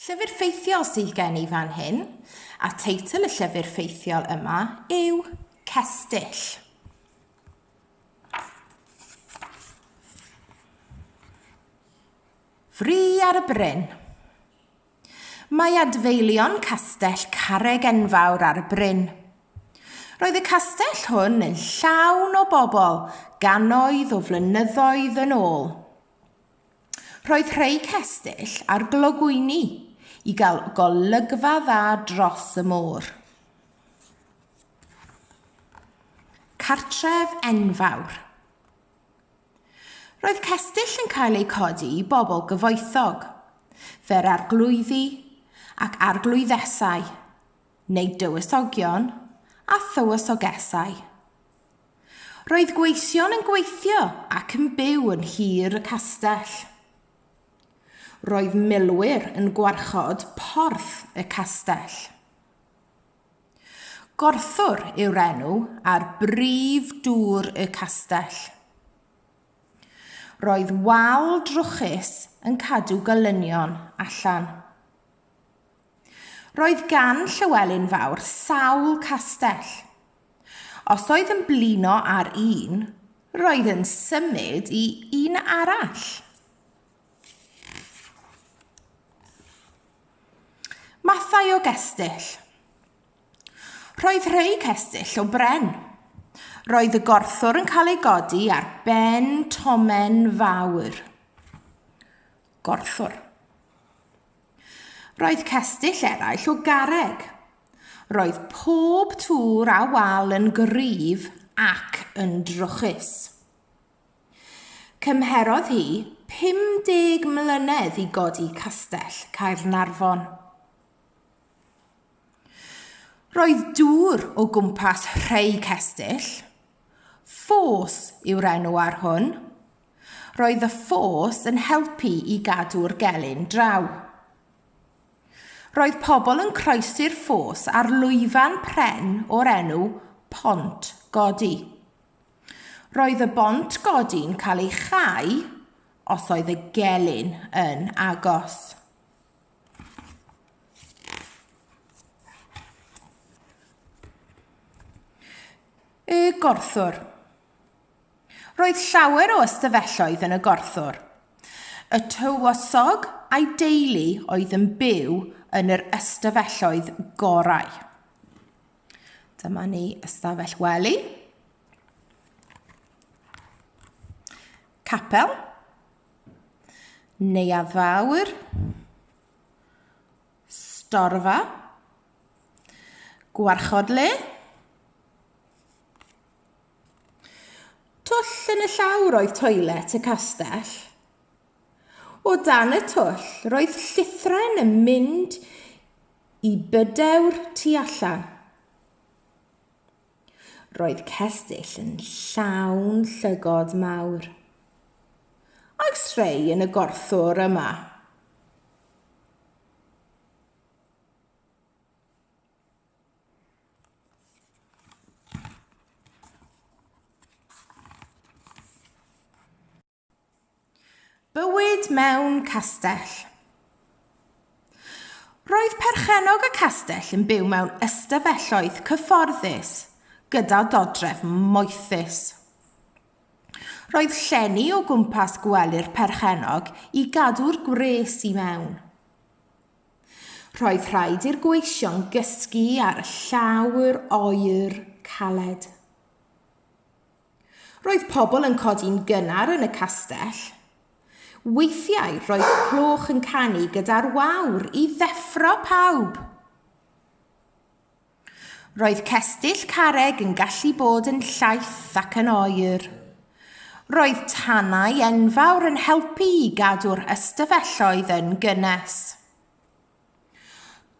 Llyfr ffeithiol sydd gen i fan hyn, a teitl y llyfr ffeithiol yma yw Cestyll. Fri ar y bryn. Mae adfeilion castell Carreg Enfawr ar y bryn. Roedd y castell hwn yn llawn o bobl ganoedd o flynyddoedd yn ôl. Roedd rhai cestyll ar glogwyni i gael golygfa dda dros y môr. Cartref enfawr. Roedd cestyll yn cael eu codi i bobl gyfoethog, fer arglwyddi ac arglwyddesau, neu dywysogion a thywysogesau. Roedd gweision yn gweithio ac yn byw yn nhir y castell. Roedd milwyr yn gwarchod porth y castell. Gorthwr yw'r enw ar brif dŵr y castell. Roedd wal drwchus yn cadw golynion allan. Roedd gan Llywelyn Fawr sawl castell. Os oedd yn blino ar un, roedd yn symud i un arall. Mathau o gestyll. Roedd rhai cestyll o bren. Roedd y gorthwr yn cael ei godi ar ben tomen fawr. Gorthwr. Roedd cestyll eraill o garreg. Roedd pob tŵr a wal yn gryf ac yn drwchus. Cymherodd hi 50 mlynedd i godi Castell Caernarfon. Roedd dŵr o gwmpas rhei cestyll, ffos yw'r enw ar hwn, Roedd y ffos yn helpu i gadw'r gelyn draw. Roedd pobl yn croesi'r ffos ar lwyfan pren o'r enw Pont Godi. Roedd y bont godi'n cael ei chau os oedd y gelyn yn agos. Y gorthwr. Roedd llawer o ystafelloedd yn y gorthwr. Y tywysog a'i deulu oedd yn byw yn yr ystafelloedd gorau. Dyma ni ystafell wely. Capel. Neuadd fawr. Storfa. Gwarchod le. Twll yn y llawr oedd toilet y castell. O dan y twll roedd llithren yn mynd i bydewr tu allan. Roedd cestyll yn llawn llygod mawr. Oes rhai yn y gorthwr yma? Bywyd mewn castell. Roedd perchennog y castell yn byw mewn ystafelloedd cyfforddus gyda dodref moethus. Roedd llenni o gwmpas gwely'r perchennog i gadw'r gwres i mewn. Roedd rhaid i'r gweision gysgu ar y llawr oer caled. Roedd pobl yn codi'n gynnar yn y castell. Weithiau roedd cloch yn canu gyda'r wawr i ddeffro pawb. Roedd cestyll carreg yn gallu bod yn llaith ac yn oer. Roedd tanau enfawr yn helpu i gadw'r ystafelloedd yn gynnes.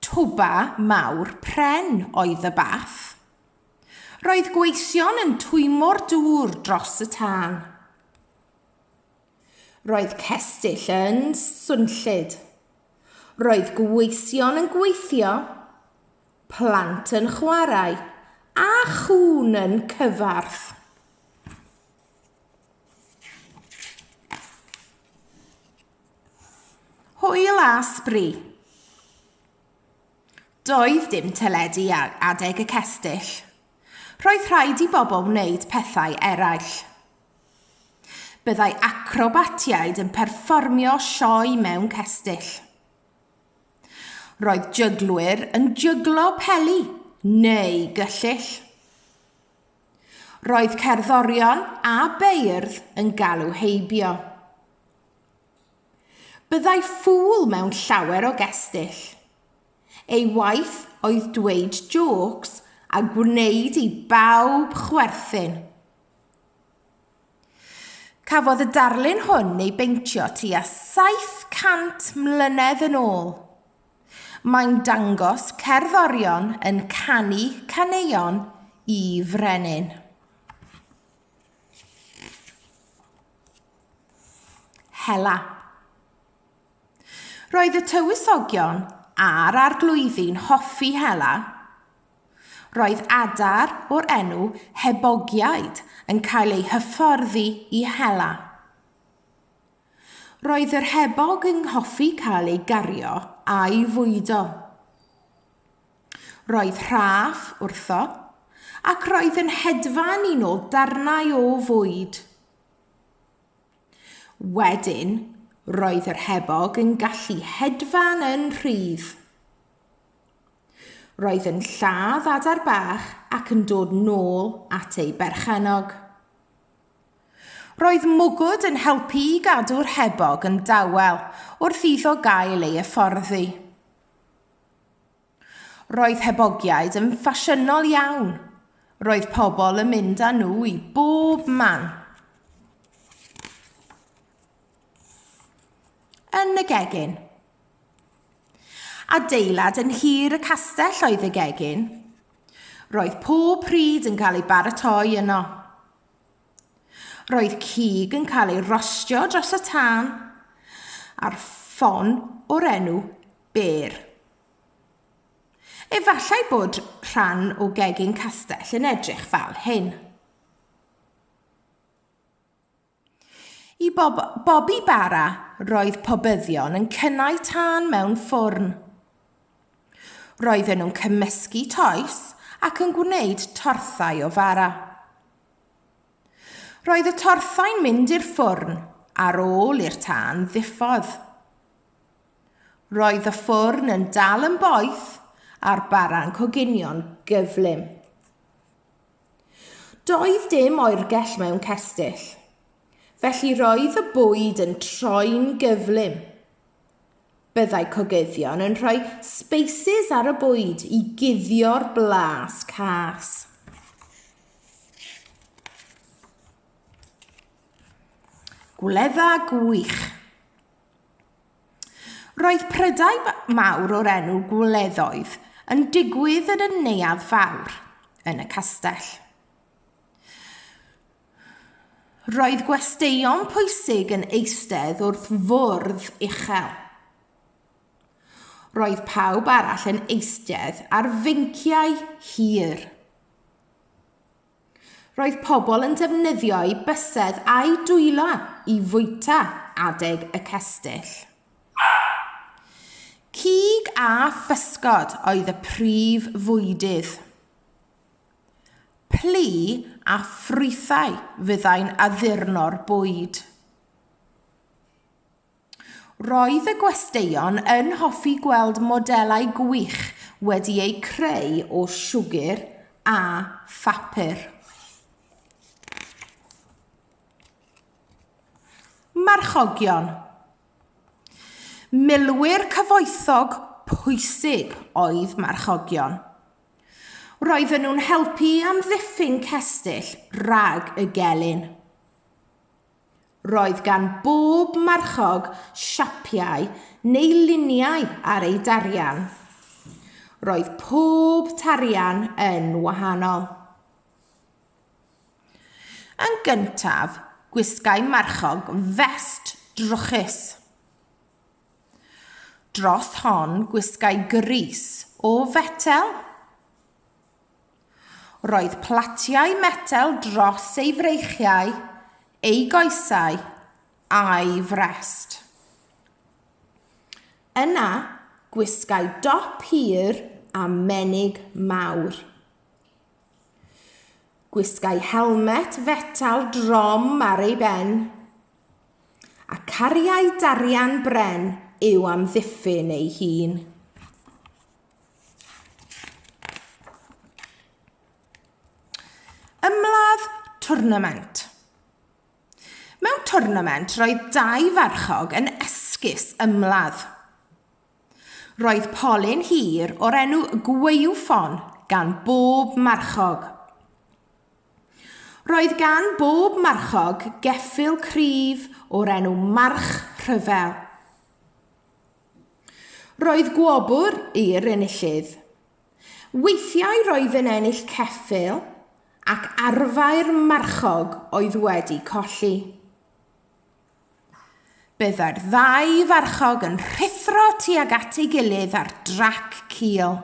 Twba mawr pren oedd y bath. Roedd gweision yn twymo'r dŵr dros y tân. Roedd cestyll yn swnllyd. Roedd gweision yn gweithio, plant yn chwarae a chŵn yn cyfarth. Hwyl a sbri. Doedd dim teledu ar adeg y cestyll. Roedd rhaid i bobl wneud pethau eraill. Byddai acrobatiaid yn perfformio sioe mewn cestyll. Roedd jyglwyr yn jyglo peli neu gyllyll. Roedd cerddorion a beirdd yn galw heibio. Byddai ffŵl mewn llawer o gestyll. Ei waith oedd dweud jôcs a gwneud i bawb chwerthin. Cafodd y darlun hwn ei beintio tua 700 mlynedd yn ôl. Mae'n dangos cerddorion yn canu caneuon i frenin. Hela. Roedd y tywysogion a'r arglwyddi'n hoffi hela. Roedd adar o'r enw Hebogiaid yn cael eu hyfforddi i hela. Roedd yr hebog yn hoffi cael ei gario a'i fwydo. Roedd rhaff wrtho ac roedd yn hedfan i nôl darnau o fwyd. Wedyn, roedd yr hebog yn gallu hedfan yn rhydd. Roedd yn lladd adar bach ac yn dod nôl at ei berchennog. Roedd mwgwd yn helpu i gadw'r hebog yn dawel wrth iddo gael ei hyfforddi. Roedd hebogiaid yn ffasiynol iawn. Roedd pobl yn mynd â nhw i bob man. Yn y gegin. Adeilad yn hir y castell oedd y gegin. Roedd pob pryd yn cael ei baratoi yno. Roedd cig yn cael ei rostio dros y tân ar ffon o'r enw Bear. Efallai bod rhan o gegin castell yn edrych fel hyn. I bob bobi bara, roedd pobyddion yn cynnau tân mewn ffwrn. Roedden nhw'n cymysgu toes ac yn gwneud torthau o fara. Roedd y torthau'n mynd i'r ffwrn ar ôl i'r tân ddiffodd. Roedd y ffwrn yn dal yn boeth a'r bara'n coginio'n gyflym. Doedd dim oergell mewn cestyll, felly roedd y bwyd yn troi'n gyflym. Byddai cogyddion yn rhoi sbeisys ar y bwyd i guddio'r blas cas. Gwledda gwych! Roedd prydau mawr o'r enw gwleddoedd yn digwydd yn y neuadd fawr, yn y castell. Roedd gwesteion pwysig yn eistedd wrth fwrdd uchel. Roedd pawb arall yn eistedd ar fynciau hir. Roedd pobl yn defnyddio'u bysedd a'u dwylo i fwyta adeg y cestyll. Cig a physgod oedd y prif fwydydd. Plu a ffrwythau fyddai'n addurno'r bwyd. Roedd y gwesteion yn hoffi gweld modelau gwych wedi eu creu o siwgr a phapur. Marchogion. Milwyr cyfoethog pwysig oedd marchogion. Roedden nhw'n helpu i amddiffyn cestyll rhag y gelyn. Roedd gan bob marchog siapiau neu luniau ar ei darian. Roedd pob tarian yn wahanol. Yn gyntaf, gwisgai marchog fest drwchus. Dros hon gwisgai grys o fetel. Roedd platiau metel dros ei freichiau, ei goesau, a'i frest. Yna, gwisgai dop hir a menig mawr. Gwisgai helmet fetel drom ar ei ben, a cariai darian bren i'w amddiffyn ei hun. Ymladd twrnament. Mewn twrnament roedd dau farchog yn esgus ymladd. Roedd polyn hir o'r enw gwaywffon gan bob marchog. Roedd gan bob marchog geffyl cryf o'r enw march rhyfel. Roedd gwobr i'r enillydd. Weithiau roedd yn ennill ceffyl ac arfau'r marchog oedd wedi colli. Byddai'r ddau farchog yn rhuthro tuag at ei gilydd ar drac cul.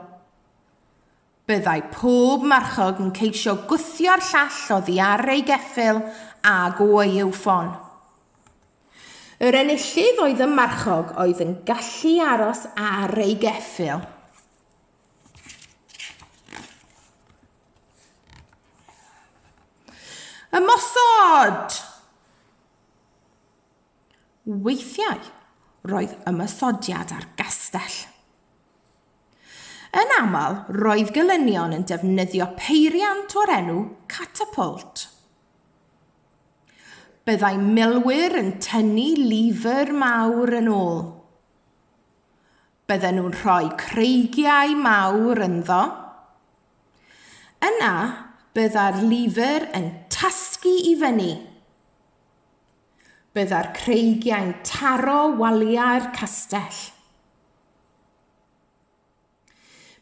Byddai pob marchog yn ceisio gwthio'r llall oddi ar ei geffyl ag o'i yw ffon. Yr enillydd oedd y marchog oedd yn gallu aros ar ei geffyl. Ymosod! Weithiau, roedd ymosodiad ar gastell. Yn aml, roedd gelynion yn defnyddio peiriant o'r enw catapult. Byddai milwyr yn tynnu lifr mawr yn ôl. Bydden nhw'n rhoi creigiau mawr ynddo. Yna, byddai'r lifr yn tasgu i fyny. Byddai'r creigiau'n taro waliau'r castell.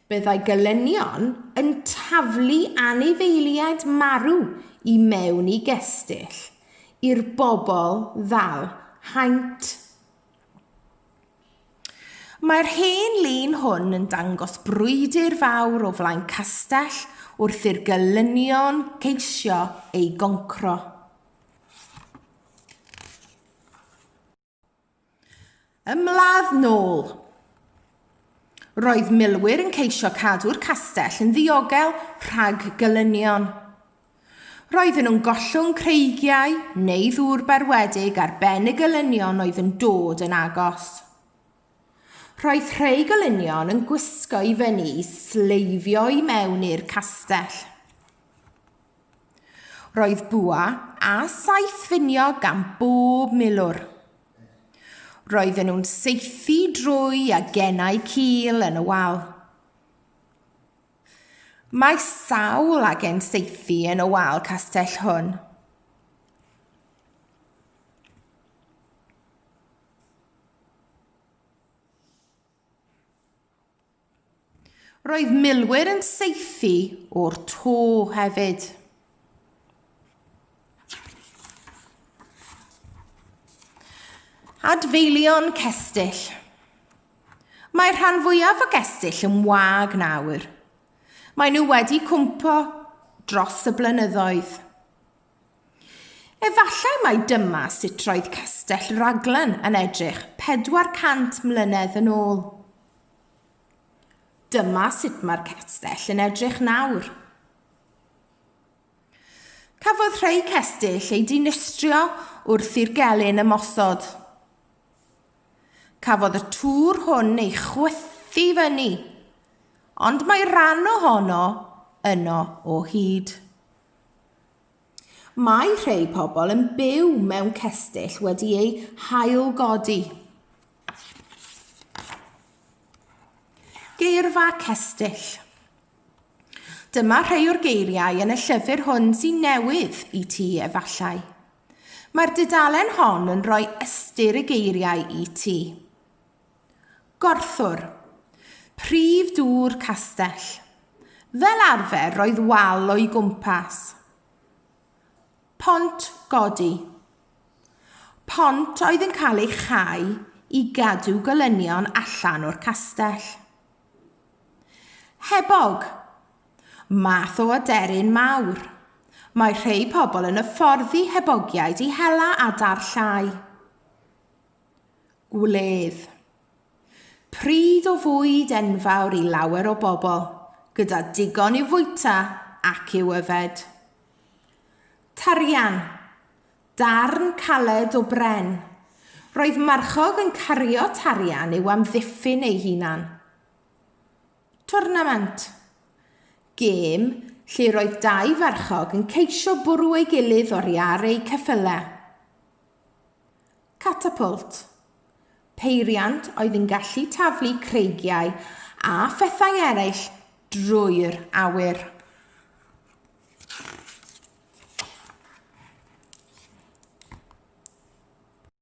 Byddai gelynion yn taflu anifeiliaid marw i mewn i gestyll i'r bobl ddal haint. Mae'r hen lun hwn yn dangos brwydr fawr o flaen castell wrth i'r gelynion geisio ei goncro. Ymladd nôl. Roedd milwyr yn ceisio cadw'r castell yn ddiogel rhag gylynion. Roedden nhw'n gollwng creigiau neu ddŵr berwedig ar ben y gylynion oedd yn dod yn agos. Roedd rhai gylynion yn gwisgo i fyny i sleifio i mewn i'r castell. Roedd bwa a saeth finio gan bob milwr. Roedden nhw'n saethu drwy a gennau cil yn y wal. Mae sawl agen saethu yn y wal castell hwn. Roedd milwyr yn saethu o'r to hefyd. Adfeilion cestyll. Mae'r rhan fwyaf o gestyll yn wag nawr. Mae nhw wedi cwmpo dros y blynyddoedd. Efallai mai dyma sut roedd Castell Raglan yn edrych 400 mlynedd yn ôl. Dyma sut mae'r castell yn edrych nawr. Cafodd rhai cestyll eu dinistrio wrth i'r gelyn ymosod. Cafodd y tŵr hwn ei chwythu fyny, ond mae rhan ohono yno o hyd. Mae rhei pobl yn byw mewn cestyll wedi eu hailgodi. Geirfa cestyll. Dyma rhai o'r geiriau yn y llyfr hwn sy'n newydd i ti efallai. Mae'r dudalen hon yn rhoi ystyr y geiriau i ti. Gorthwr. Prif dŵr castell. Fel arfer roedd wal o'i gwmpas. Pont godi. Pont oedd yn cael ei chau i gadw golynion allan o'r castell. Hebog. Math o aderyn mawr. Mae rhai pobl yn hyfforddi hebogiaid i hela adar llai. Gwledd. Pridd o fwyd enfawr i lawer o bobl, gyda digon i'w fwyta ac i'w yfed. Tarian. Darn caled o bren. Roedd marchog yn cario tarian i'w amddiffyn ei hunan. Tornament. Gêm lle roedd dau farchog yn ceisio bwrw ei gilydd oriar eu ceffylau. Catapult. Peiriant oedd yn gallu taflu creigiau a phethau eraill drwy'r awyr.